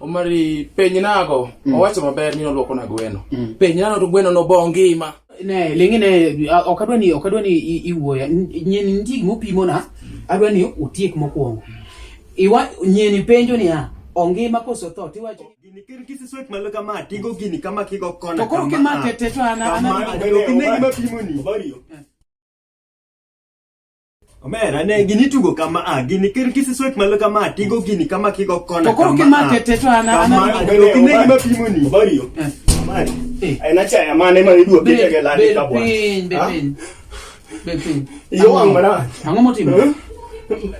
Omari penye nago mm. owacho maber ni nolwoko na gweno mm. penye nano to gweno no bo ngima ne lingi ne ok adwa ni ok adwa ni iwuoya nyeni nitie gima opimo na adwa ni utiek mokwongo iwa nyeni penjo ni ya ongima koso tho tiwacho gini ker kisi swet malo kama tingo gini kama kigo kona to koro kima tete to ana ana gini gima pimo ni obariyo Omera ne gini tugo kama a gini ker kisi sweat malo kama a, tigo gini kama kigo kona To koro kama a. kimake te to an- an- Kama an- a, Obari, ok ine gima pimo ni. Obari yo. Eh. Obari. Eh. En achaya mane ma idwa Bed- pite ke lani bed ka bwana. piny, bed Ah, piny. Bed piny. Yo Ang'o- wang' marach. Ang'o motimo? Eh?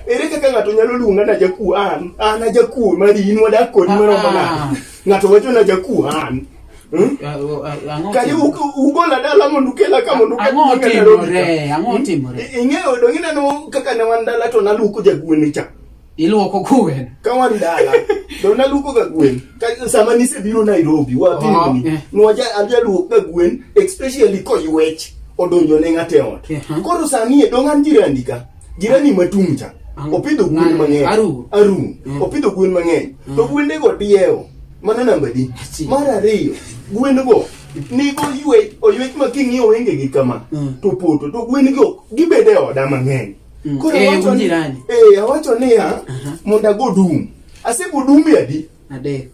Ere kaka ng'ato nyalo luonga na jakuo an? An ajakuo mari in wadak kodi Ah, maromo ah. nade? Ng'ato wacho na jakuhan. Hmm? Ah, oh, ah, ang'o Kali tim- uk- ugola dala mondo ukela ka mondo uket ang'o nyinga Nairobi ka. timore ang'o Hmm? timore I- Ing'eyo do ineno kaka ne wan dala to naluko jagwene cha. iluoko kuwen Ka wan dala to naluko ga gwen. Ka sama nisebiro Nairobi Oh, wapimni. eh. Nwaja ajaluok ga gwen especially koywech odonjo ne ng'ate ot. Eh, huh. Koro sani e dong' an jirandi ka. jirani matung' cha opidho gwen mang'eny arum arum mm. opidho gwen mang'eny mm. to gwende go diewo mano namba di mar ariyo gwen go nigo ywe oywech ma king'iyo wenge gi kama mm. to poto to gwen go gibede oda mang'eny mm. koro eh, awacho ni eh awacho ni ya uh-huh. mondo ago dum asego dum yadi adek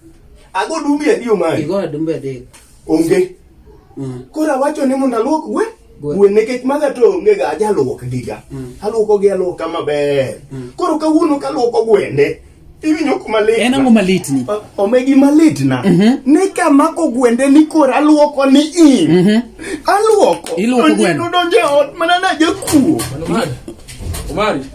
ago dum yadi omari igo dum yadi onge mm. koro awacho ni mondo aluok gwen gwen nikech maga to onge ga ajaluok giga mm. aluoko gi aluoka maber mm. koro kawuono kaluoko gwende iwinjo kuma lit en ang'o malit ni omegi malit na mm -hmm. ni kamako gwende ni koro aluoko ni in mm -hmm. aluoko iluoko gwende donje ot mana na jakuo Omari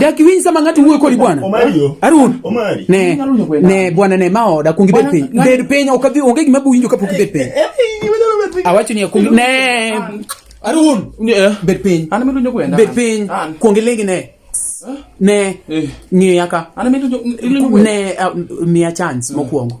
dakiwinyi sama ngati wuoyo kodi bwana arun ne ne bwana ne ma oda kungi bet piny bed piny okadhi onge gima buwinjo kapok ibet piny awacho ni akungi ne arun bet piny bet piny kuongi lengi ne ne ng'iya ka ne miya chance mokwongo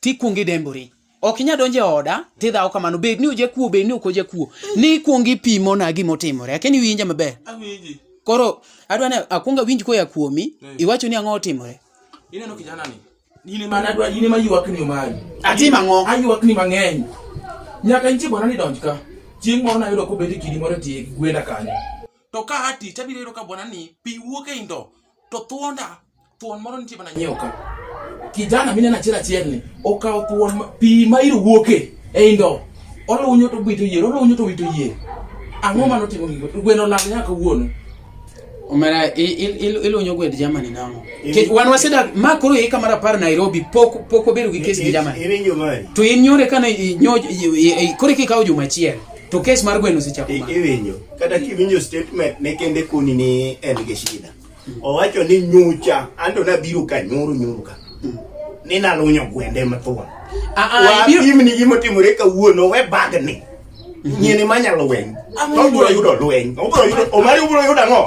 tikwongo idembori ok inya donjo e oda tidhawo kamano bed ni ojakuo bed ni ok ojakuo ni ikwongo ipimona gima otimore akeni winja maber Awinji. koro adwa ni akwongo awinj koya kuomi Mm. iwacho ni ang'o otimore Ineno kijana ni. In ema nadwa, in ema ywakni omari. Atim ang'o? Aywakni mang'eny. Nyaka nitie bwana ni donj ka. Chieng' moro nayudo kobet e kidi moro e tie gwenda kanyo. To ka ati tabiro yudo ka bwana ni pi wuok e indo. to thuonda thuon moro nitie mana nyiewo ka kijana mineno achiel achiel ni okawo thuon pi ma iro wuoke e indo olunyo to wito yier olunyo to wito yier ang'o mano timo gigo gweno lal nyaka wuono Omera ilunyo gwed Germany namo. Ke wan waseda ma koro yeka mara par Nairobi pok pok obedo gi kes gi Germany. To in nyore kana nyo kore kikawo juma achiel. To kes mar gweno osechako ma. Iwinjo. Kata kiwinjo statement ne kende kuni ni en gi shida. Owacho ni nyucha anto nabiro ka nyoro nyoro ka. Mm. Ni nalunyo gwende mathuon. Ah ah ibiro pim ni gimo timore ka wuono we bag ni. Mm-hmm. Nyene manya lweny. To bro yudo lweny. Obro yudo omari obro yudo ngo.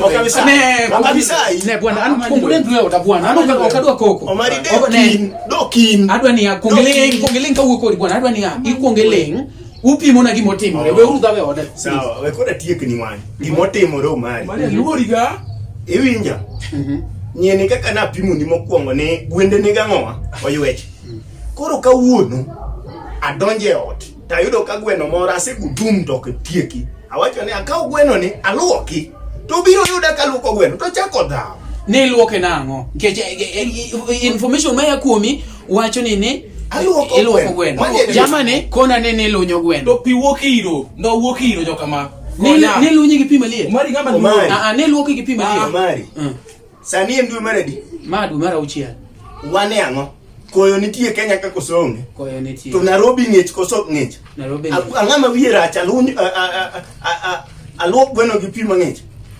Okabisa. Ne okabisa. Ne bwana an kongole ndwe oda bwana. Ano okadwa koko. Omari de kin. Do kin. Adwa ni ya kongele kongele ka wuko bwana adwa ni ya. Ikwongeleng. upimo na gima otimore we uru dhawe ode sawa we koda tiek ni wan gima otimore omari mane luori ga iwinja mhm. nyeni kaka na pimo ni mokwongo ni gwende ni gang'owa oywech koro kawuono adonje e ot tayudo ka gweno moro asegudum to ok tieki awacho ni akaw gweno ni aluoki to biro yuda kaluoko gweno to chako dhawo ni iluoke nang'o nikech eh, eh, eh, information maya kuomi wacho ni ni Aluoko iluoko gweno. gweno Mani e- jamani kona ni ni lunyo gweno to pi wuok iro no wuok iro joka ma ni Konya. ni lunyi gi pi malie omari ng'ama Omari. luoro. a a ni luoki gi pi malie Omari. Mm. Sani en dwe mar adi? ma dwe mar auchiel Wan e ang'o? Koyo nitie Kenya ka koso onge. koyo nitie To Nairobi ng'ich koso ok ng'ich. Nairobi A- Ang'ama wiye rach aluny a- a- a- a- a- aluok gweno gi pi mang'ich.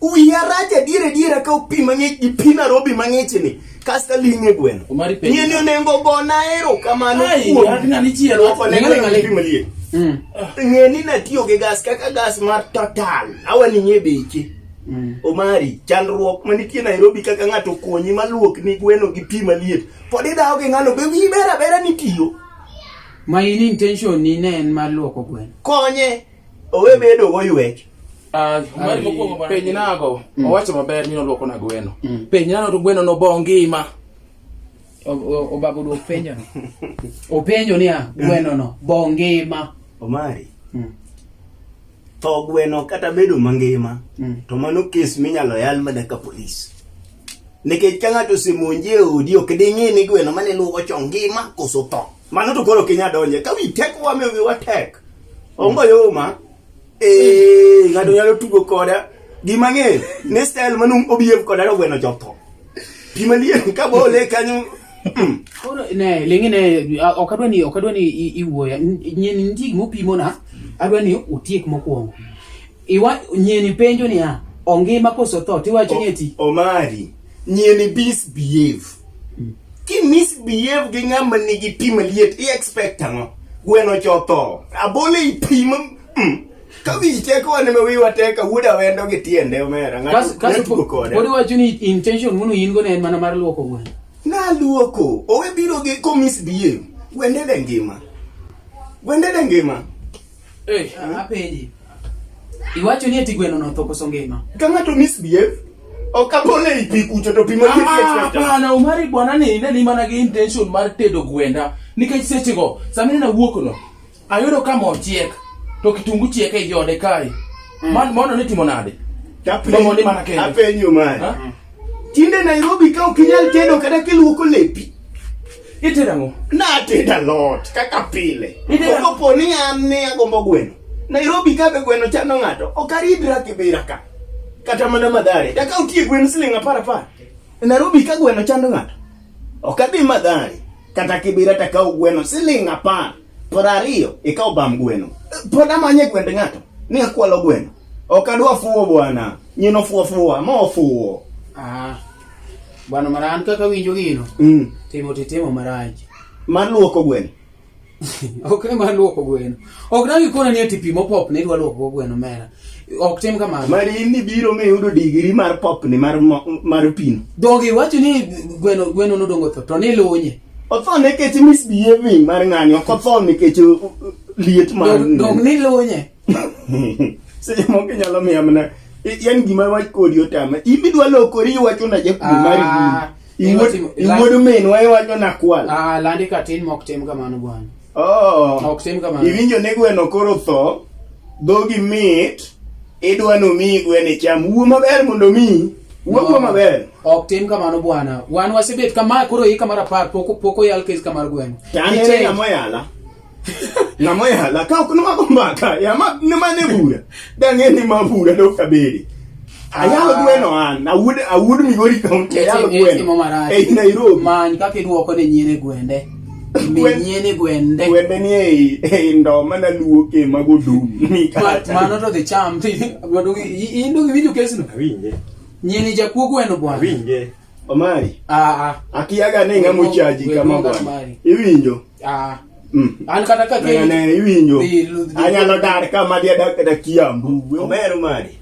Wiya rach adier adier ka opi mang'ich gi pi Nairobi mang'ichni kasta ling'e gweno. Omari penjo. Nyeni onengo gona erokamano Ai, kuom akina ni chielo. Loko ne Ng'ale, ng'ale. pi maliet. Mm. Ng'e ni natiyo gi gas kaka gas mar Total. Awaning'e beche. Mm. Omari, chandruok manitie Nairobi kaka ng'ato konyi maluok ni gweno gi pi maliet. Pod idawo gi ng'ano be wiyi ber abera ni tiyo. Ma in intention ni ne en mar luoko gweno. Konye. Owe bedo go ywech. Ah, penj nago mm. owacho maber ni nolwoko na gweno mm. penj nano to gweno nobo ngima obago duok penjo openjo niya gweno no bo ngima omari mm. tho gweno kata bedo mangima to mano kes minyalo yal mana ka polis nikech ka ng'ato osemonji e odi ok ding'e ni gweno mane luwo cho ngima koso tho Mano to koro kinya donje. Ka wi tek wa me wi wa tek. Ongo yo ma. Eh, ngado nyalo tugo koda. Gi mang'e, ne style manu obiev koda ro gweno jotho. Pi malier ka bole kanyo. Mm. Koro ne lengi ne a- ok adwa ni ok adwa ni i- iwuoya. N- Nyen ndig mopimona adwa ni utiek mokwongo. Iwa nyieni penjo niya, ongima koso tho tiwacho ni eti. Omari, nyieni misbehave. Hmm. Ki misbehave gi ng'ama nigi pi maliet, i expect ang'o? Gweno chotho. Abole i pi ma... Mm. Kawi teko wane ma wiwa teka wuda wendo gi tiende omera. Kasu kasu pod iwacho ni intention munu in go ne en mana mar luoko gweno. Na luoko. Owe biro gi ko misbehave. Gwende de ngima. Gwende de ngima. Hey. Apenji. Iwacho ni eti gweno notho koso ngima. Ka ng'ato misbehave ok abole i pi kucho to pi ma ah, Hapana, Omari bwana ni ne ni mana gi intention mar tedo gwenda nikech seche go sama ne nawuok no ayudo ka mo chiek to kitungu chiek e jode kae. Mm. Man mono ni timo nade? Tapenyo ni mana kende. Apenyo mari. Tinde Nairobi ka ok inyal tedo kata kiluoko lepi. Itedo ang'o? Natedo alot kaka pile. Itedo ang'o? Kopo ni an ne agombo gweno. Nairobi ka be gweno chando ng'ato, ok aridra Kibira ka. Kata mana Mathare. Daka utie gweno siling' apar apar. E Nairobi ka gweno chando ng'ato, ok adhi Mathare. Kata Kibira takawo gweno siling' apar. Para ariyo ikaw bam gweno. Pod amanye gwend ng'ato ni akwalo gweno. Ok adwa fuwo bwana. Nyino fuwo fuwa ma ofuwo. Ah. Bwana mara an kaka winjo gino. Mm. Timo titimo marach. Mar luoko gweno. ok ni mar luoko gweno. Ok dagi kona ni ati pi mopop ne idwa luoko gweno mera. ok tim kamano mari in ni biro mi yudo digiri mar popni mar mo- mar pino dhogi wacho ni gweno gweno nodongo tho to nilunye otho nikech misbehaving mar ng'ani ok otho nikech uh, uh, liet mar Dog- dog nilunye seche moko inyalo miya mana i- yan gima wach kodi otama in idwa lokori iwacho na jakuo Ah, mar iwuod- iwuod- iwuod minwa iwacho na kwal Ah, landi katin mok tim kamano bwana Oh. Ok tim kamano. Iwinjo ni gweno koro tho, dhogi mit, idwa nomiyi gweno icham. Wuo maber mondo omiyi. Wuo wuo maber. Ok tim kamano bwana. Wan wasebet kama koro hii kamar apar pok pok oyal kes kamar gweno. Tani Nikech- ng'ama oyala. Ng'ama oyala. Ka ok nwako mbaka, yama nima ne bura. Dang'e ni mabura dok kabedi. Ayalo ah. gweno an, awud awud Migori County, ayalo gweno. Ei eh, Nairobi. Many kaka iduoko ne nyine gwende. Minyene gwende. Gwende ni ei ei ndo mana luoke mago dum. Mikata. Mano to the charm. Gwendo indo giwinjo kesno. Awinje. Nyene jakuo gweno bwana. Awinje. Omari. Ah ah. Akiyaga ne ngamo chaji kama bwana. Iwinjo. Ah. Mm. An kata ka ke ne iwinjo. Anyalo dar ka ma dia dak da kiambu. Omeru mari.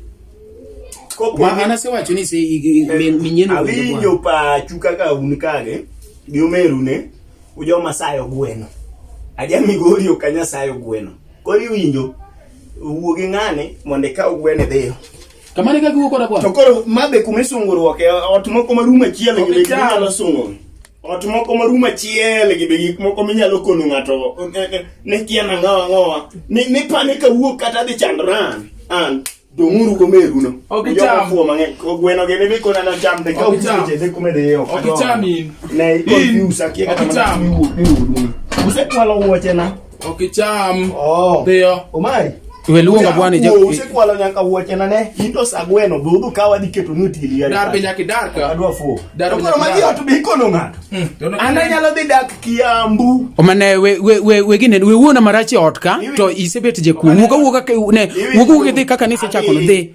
Kopo ana se wacho ni se eh, minyeno. Awinjo pa chuka ka un kage. Gi omeru ne. Ujo masayo gweno. Aja migori okanya sayo gweno. Kori winjo. Wuo gi ng'ane mondo ikaw gwene dhiyo. Kamane ka giwuok kod abwa. To koro mabe kuma isunguruok e ot moko marumo achiel e nyalo sungo. ot moko ma rum achiel gi be gik moko minyalo kono ng'ato ne kia nang'awa ng'owa ni pane ka wuok kata dhi chandra an dong'uru go meruno okichamuo mang'eny gweno gene be kona nacham de ka ucheche de kume de yo okicham in ne confuse akia kata mana wuok ni wudu usekwalo wuoche na Okicham. Oh. Dhiyo. Omari. We luonga bwana je. Usikwalo nyaka wuoche na ne. Into sagweno be udhu kawa dhi keto ni otili yari. Dar be nyaka dar ka. Adwa fuo. Dar be nyaka. Magi otu be ikono ng'ato. Hmm, Ana nyalo dhi dak Kiambu. Omane we we we we gine we wuona marachi ot ka to isebet je ku. Wuka wuka ne wuka wuka dhi kaka ni se chako dhi.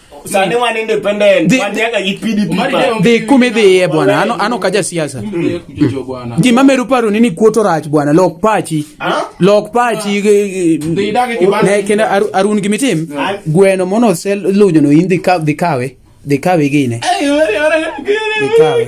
Sane wana independent. Wanataka IPDP. Dhi kumi dhiye bwana. Ano ano kaja siasa. Ji mameru paro nini kuoto rach bwana. Lok pachi. Lok pachi. Ne kenda arun gimitim. Gweno mono sel lujo no indi ka dhikawe. Dhikawe gine. Dhikawe.